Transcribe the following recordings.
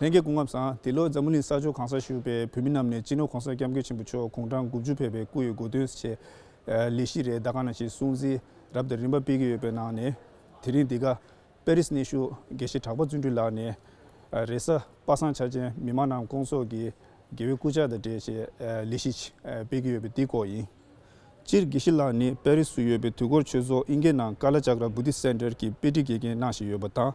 ལྷན་རྒྱས་སྐུ་ངབ་བཟང། འདི་ལོ་འཛམ་བུ་གླིང་ས་ཕྱོགས་གང་སར་བཞུགས་པའི་བོད་མི་རྣམས་ནས་སྤྱི་ནོར ྋགོང་ས ྋསྐྱབས་མགོན་ཆེན་པོ་མཆོག་དགུང་གྲངས་དགུ་བཅུ་ཕེབས་པའི་སྐུ་ཡི་སྒོ་དོན་ཆེད། ལི་ཤི་རེའི་ཟླ་གང་ན་ཞིག་སྲུང་བརྩི་རབ་དང་རིམ་པ་སྤེལ་གྱི་ཡོད་པའི་ནང་ནས། དེ་རིང་འདི་ག་པེ་རིས་གནས་བཞུགས་དགེ་བཤེས་གྲགས་པ་བརྩོན་འགྲུས་ལགས་ནས། རེས་གཟའ་པ་བསང་ཆ་ཅན་མི་མང་རྣམས་སྐོང་ཚོགས་ཀྱིས་དགེ་བའི་སྐུ་ཕྱག་དང་འབྲེལ་ཞེས་ལི་ཤི་སྤེལ་གྱི་ཡོད་པའི་དེའི་སྐོར་ཡིན། སྤྱིར་དགེ་བཤེས་ལགས་ནི་པེ་རིས་སུ་ཡོད་པའི་དུས་འཁོར་ཆོས་ཚོགས་ཨིན་སྐད་ནང་ཀ་ལ་ཅཱཀ་ར་བུ་ཏི་སེན་ཏྲལ་གྱི་དཔེ་ཁྲིད་དགེ་རྒན་གནང་བཞིན་ཡོད་པ་དང།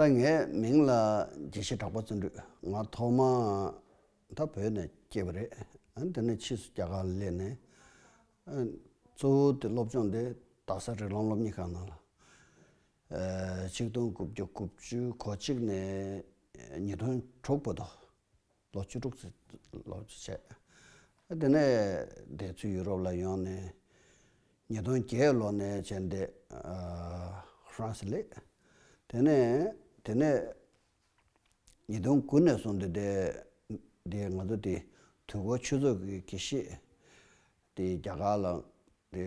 ད་ངའི་མིང་ལ་དགྱེས་བཞེས་གྲགས་པ་བརྩོན་འགྲུས། ང་ཐོག་མ་ད་བོད་ནས་སྐྱེས་པ་རེད། དེ་ནས་ཕྱིས་སུ་རྒྱ་གར་སླེབས་ནས། གཙོ་བོ་དེ་སློབ་སྦྱོང་དེ་རྡ་ས་རི་ལམ་སློབ་གཉེར་ཁང་ནང་ལ། ཆིག་སྟོང་དགུ་བརྒྱ་དགུ་བཅུ་གོ་གཅིག་ནས་ཉིས་སྟོང་དྲུག་བར་དུ། ལོ་བཅུ་དྲུག་ཙམ་ལོ་བཅུ་ཕྱེད། དེ་ནས་འདས་ཚུལ་ཡུ་རོབ་ལ་ཡོང་ནས་ཉིས་སྟོང་བརྒྱད་ལོ་ནས་བྱས་འདས་ཧྥ་རན་སི་ལས། དེ་ནས་དེ་ནས་ཉིས་སྟོང་དགུ་ནས་བཟུང་སྟེ་འདས་འདས་ང་ཚོ་དེ་དུས་འགོ་ཆོས་ཚོགས་ཀྱི་གྱི་ཤེས་དེ་རྒྱ་གར་ལ་དེ་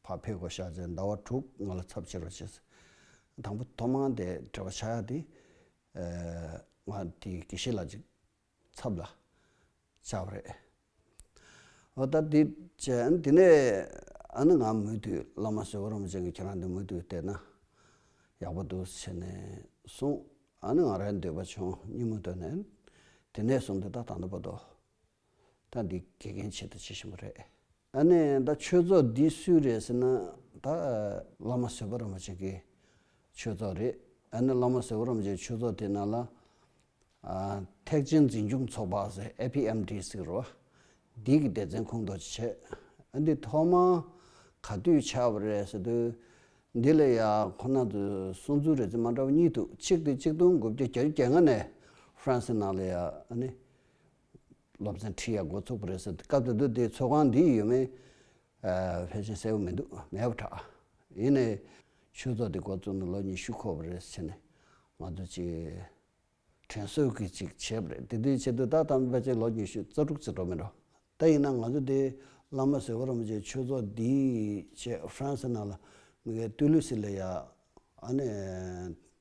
ཕར་ཕེབས་དགོས་ཤག་ཅེས་ཟླ་བ་དྲུག་ང་ལ་ཚབ་ཆེ་རུ་བྱས། དང་པོ་ཐོག་མར་འདས་བྲལ་བ་ཆགས་ཡ་དེ་ང་དེ་གེ་ཤི་ལ་ཅིག་ཚབ་ལ་བཅར་བ་རེད། ཨོ་ད་དེ་བྱས་ཨ་ནི་དེ་ནས་ཨ་ནི་ང་མུ་མཐུད་བླ་མ་ཟེར་བ་རུང་བ་ཅན་གྱི་ཁྱེད་རང་འདི་མུ་མཐུད་བལྟས་ན་ཡག་པོ་འདུག་ཟེར་ནས་གསུངས་ཨ་ནི་ང་རང་འདོད་པ་བྱུང་སྙིང་མོ་བཏོན་ནས་དེ་ནས་བཟུང་འདི་ད་ད་འདོད་པ་འདོད་ད་འདི་དགེ་རྒན་ཆེད་དུ་བྱེད་བཞིན་པ་རེད། ཨ་ནེ་ད་ཆོས་ཚོགས་འདི་སུའི་རེད་ཟེར་ན་ད། བླ་མ་ཟེར་བ་རམ་པ་ཅིག་གི་ཆོས་ཚོགས་རེད་ཨ་ནེ་བླ་མ་ཟེར་བ་རམ་པ་ཅིག་གི་ཆོས་ཚོགས་དེ་ནང་ལ། ཐེག་ཆེན་འཛིན་སྐྱོང་ཚོགས་པ་ཟེར APMD ཟེར་རོ། འདི་གི་སྡེ་ཚན་ཁོང་དོགས་ཅིག་བྱས། འདི་ཐོག་མ་ག་དུས་ཆགས་པ་རེད་ཟེར་དུས། འདི་ལ་ཡ་ཁོ་ན་ཚོས་གསུང་ཚུལ་རེ་ཚོད་མ་འདྲ་བ་གཉིས་འདུག་གཅིག་དེ་གཅིག་སྟོང་དགུ་བརྒྱ་གྱ་བཅུ་གྱ་ལྔ་ནས་ཧྥ་རན་སི་ནང་ལ་ཡ་ཨ་ནེ་སློབ་ཚན་ཁྲིད་ཡག་འགོ་ཚུགས་པ་རེད་ཟེར་དུས་སྐབས་དེ་དུས་དེའི་ཚོགས་ཁང་འདིའི་ཡུལ་མིའི་ཕལ་ཆེར་གསལ་བོ་མི་འདུག་མེད་པར་གྲགས། ཡིན་ནའི། ཆོས་ཚོགས་འདི་འགོ་བཙུགས་ནས་ལོ་ཉི་ཤུ་འཁོར་བ་རེད་ཟེར་ནས་ང་ཚོ་ཅིག་དྲན་གསོས་ཀྱི་ཅིག་བྱས་པ་རེད་དེ་དུས་ཆེད་དུ་ད་ཐམས་ཅད་ཕལ་ཆེར་ལོ་ཉི་ཤུ་རྩ་དྲུག་ཚེ་འགྲོ་མི་འགྲོ། ད་ཡིན་ན་ང་ཚོ་དེ་བླ་མ་ཟེར་བ་རུང་བཅས་ཆོས་ཚོགས་འདིའི་ཆེད་ཧྥ་རན་སི་ནང་ལ་མི་གའི་ཏུའུ་ལུ་སི་ལེ་ཡ་ཨ་ནེ།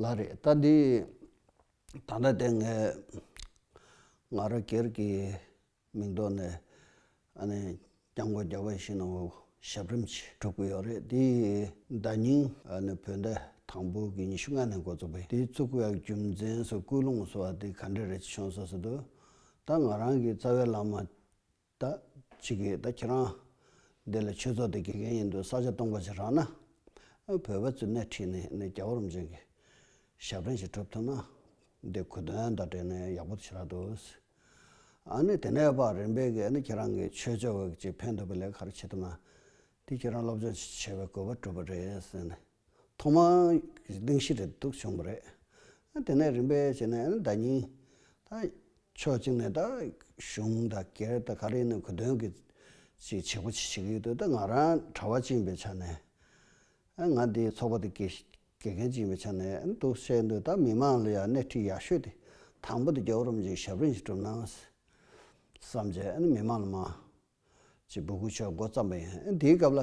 ལ་རེད་ད་འདི་ད་ལྟ་དེ་ངས་ང་ར་གེར་གི་མིང་ཐོག་ནས་ཨ་ནི་རྐྱང་མགོ་རྒྱག་པ་བཞིན་ནོ་ཞབས་རིམ་ཞིག་གྲུབ་གི་ཡོད་རེད་དེ་ཡིན་ཟླ་སྙིང་ཨ་ནི་བོད་ཟླ་དང་པོ་གི་ཉི་ཤུ་ལྔ་ནས་འགོ་བཙུགས་པའི་དེའི་བཙུགས་པའི་རྒྱུ་མཚན་སོགས་སྐུལ་སློང་སོགས་དེ་ག་འདྲ་རེད་ཅེས་ཤོང་ས་སུ་འདུག་ད་ང་རང་གི་རྩ་བའི་ལམ་མ་ད་ཅི་གིས་ད་ཁྱེད་རང་འདི་ལ་ཆོས་ཚོགས་འདི་དགེ་རྒན་ཡིན་དུས་ས་ཆ་སྟོང་པ་ཞིག་རག་ན། བོད་པ་ཚོས་སྣེ་ཁྲིད་ནས་ནས་རྒྱ་གོ་རིམ་ཅན་གྱི་ཞབས་འདྲེན་ཞིག་གྲུབ་ཐུབ་ན། འདི་གོ་དོན་དང་འབྲེལ་ནས་ཡག་པོ་དེ་ཆེ་རག་འདུག། ཨ་ནི་དེ་ནས་བར་རིམ་པས་ཨ་ནི་ཁྱེད་རང་གིས་ཆོས་ཕྱོགས་ཀྱི་ཕན་ཐོགས་པའི་ལས་ག་རེ་བྱེད་ཐུབ་ན། དེ་ཁྱེད་རང་སློབ་སྦྱོང་བྱེད་པའི་གོ་བ་གྲུབ་པ་རེད་ཟེར་ནས། ཐོག་མ་གདེང་ཤིག་རེད་འདུག་བྱུང་བ་རེད། དེ་ནས་རིམ་པས་བྱས་ནས་ད་ཉིན། ཕྱོགས་གཅིག་ནས་ད་གཞུང་ད་སྒེར་ད་ག་རེ་ནས་གོ་དོན་གྱི་ཅིག་བྱེད་པོ་ཅིག་བྱེད་ཀྱི་ཡོད་དུས་ད་ང་རང་གྲྭ་བ་ཅིག་ཡིན་པའི་ཆ་ནས། ང་འདིའི་ཚོགས་པ་དེ་དགེ་རྒན་ཅིག་ཡིན་པའི་ཆ་ནས་འདུག་བཤད་འདོད་ད་མི་མང་ལ་ཡང་སྣེ་ཁྲིད་ཡག་ཤོས་དེ་དང་པོ་དེ་རྒྱ་བོད་རུམ་ཅིག་ཞབས་རིང་ཞིག་གྲུབ་ན་བསམ་བྱས་མི་མང་ལ་མ། ཅེས་སྦུ་གུ་ཆོས་མགོ་བརྩམས་པ་ཡིན། ཨ་ནི་དེའི་སྐབས་ལ་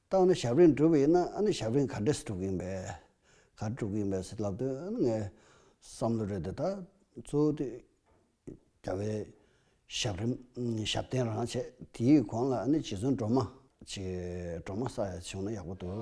ཏག་ཨ་ནི་ཞབས་རིན་བསྒྲུབས་ཡིན་ན་ཨ་ནི་ཞབས་རིན་ག་འདྲས་སུ་བསྒྲུབས་ཀྱི་ཡིན་པས། ག་རེ་བསྒྲུབས་ཀྱི་ཡིན་པས་སེ་ལབ་དུས་ཨ་ནི་ངའི་བསམ་བློ་རེད་དེ་ད་གཙོ་བོ་དུས་རྒྱ་བའི་ཞབས་རིམ་ཞབས་བརྟན་རང་བྱས་དེའི་གོང་ལ་ཨ་ནི་རྗེ་བཙུན་སྒྲོལ་མ། ཅེས་སྒྲོལ་མ་ས་ཡ་བྱུང་ན་ཡག་པོ་འདུག།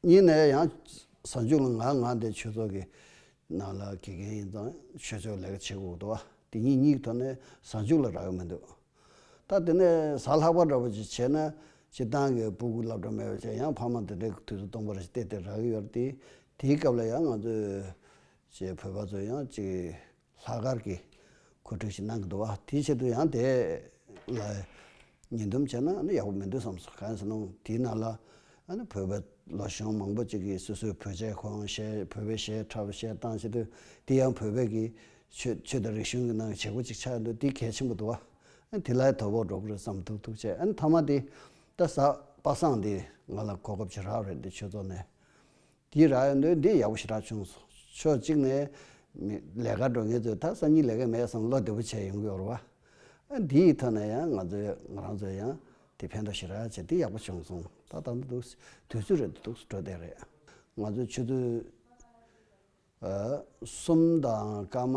གཉིས་ནས་ཡང་བཟང་སྤྱོད་ལ་ངག་ངག་འདས་ཆོས་ཚོགས་ཀྱི་ནང་ལ་དགེ་རྒན་ཡིན་ཙང་ཆོས་ཕྱོགས་ལས་ཀ་བྱེད་དགོས་འདུག་བ་དེ་གཉིས་གཉིས་ཐོག་ནས་བཟང་སྤྱོད་ལ་རག་ཡོད་མི་འདུག་ད་དེ་ནས་ཟ་ལྷག་པ་འདྲ་བོ་ཅིག་བྱས་ན་སྤྱིར་བཏང་གི་སྤུ་གུ་ལབ་འདྲ་མེད་པ་ཅིག་ཡང་ཕ་མ་འདི་འདྲའི་དུས་སུ་སྟོང་པ་རེ་བལྟས་ཏེ་རག་གི་ཡོད་རེད་དེ་དེའི་སྐབས་ལ་ཡང་ང་ཚོའི་བོད་པ་ཚོ་ཡང་ཅིག། ལྷག་དཀར་གྱིས་ཁོས་གྲོས་ཞིག་གནང་གི་འདུག་བ་དེའི་ཆེད་དུ་ཡང་དེ་ལ་ཉེས་འདོམས་བྱས་ན་ཡག་པོ་མི་འདུག་བསམ་སོང་གང་ཡིན་ཟེར་ན་དེའི་ནང་ལ་བོད་པའི་ལོ་ཆུང་མང་པོ་ཅིག་གིས་སོ་སོའི་བོད་ཆས་གང་བཤད་བོད་པའི་ཞལ་ཁྲ་བོ་ཞལ་བཏང་བྱས་དུས་དེ་ཡང་བོད་པའི་གི་ཆོས་ཆོས་དང་རིག་གཞུང་གི་ནང་གི་བྱེད་སྒོ་ཅིག་ཆགས་འདུག་དེ་གལ་ཆེན་པོ་འདུག་བ་དེ་ལ་དོ་ཕོག་འགྲོ་གི་རེད་བསམ་ཐུག་ཐུག་བྱས་ཨ་ནི་མཐའ་མ་དེ་ད་ས་པ་སངས་འདི་ང་ལ་གོ་སྐབས་ཇེ་ཧྲག་རེད་འདི་ཆོས་ཚོགས་ནས་དེའི་ར་ཡོད་འདོད་འདི་ཡག་པོ་ཞེ་དྲག་བྱུང་སོང། ཕྱོགས་གཅིག་ནས། ལས་ཀར་འགྲོ་མཁན་ཚོས་ད་གསར་རྙིང་ལས་ཀ་མེད་བསམ་བློ་བདེ་པོ་བྱས་ཡོང་གི་ཡོད་རེད་བ། འདི་ཡིག་ཐོས་ནས་ཡང་ང་ཚོས་ང་རང་ཚོས་ཡང་དེ་ཕན་ཐོགས་ཞེ་དྲག་བྱས་འདི་ཡག་པོ་བྱུང་སོང་ད་ད་འདི་དུས་ཚོད་རེད་འདི་ཐུགས་སུ་འགྲོ་བསྡད་རེད། ང་ཚོས་ཆུ་ཚོད་གསུམ་དང་སྐར་མ།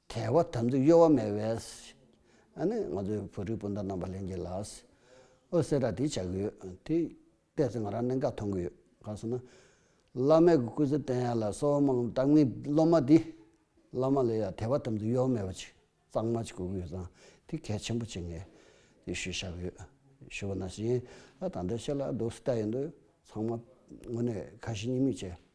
དལ་བ་དམ་ཚིག་གཡོ་བ་མེད་བས། ཨ་ནི་ང་ཚོའི་བོད་རིགས་སྤུན་ཟླ་རྣམས་པ་ལེན་གྱི་ལགས། འོད་ཟེར་ར་དེ་བྱ་གི་ཡོད་དེ། བལྟས་ཚེ་ང་རང་གནད་འགག་མཐོང་གི་ཡོད་ག་སོང་ན། བླ་མའི་གུ་གུལ་ཚིག་བསྟན་ཡ་ལ་སོགས་དམངས་གཙང་མའི་སློབ་མ་འདི། བླ་མ་ལས་ཡང་དལ་བ་དམ་ཚིག་གཡོ་བ་མེད་པ་ཅིག་གཙང་མ་ཅིག་གོ་གི་ཡོད་ཙང་དེ་གལ་ཆེན་པོ་བྱེད་ངེས། དེ་ཞུ་བཞག་གི་ཡོད། ཞུ་བ་ན་བཞིན་ཨ་ད་ལྟ་ཤེས་ལ་སྡུག་སུ་ལྟ་ཡི་འདུག་ཚང་མ་དངོས་གནས་ཁ་ཞེ་གཉིས་མེད་བྱས།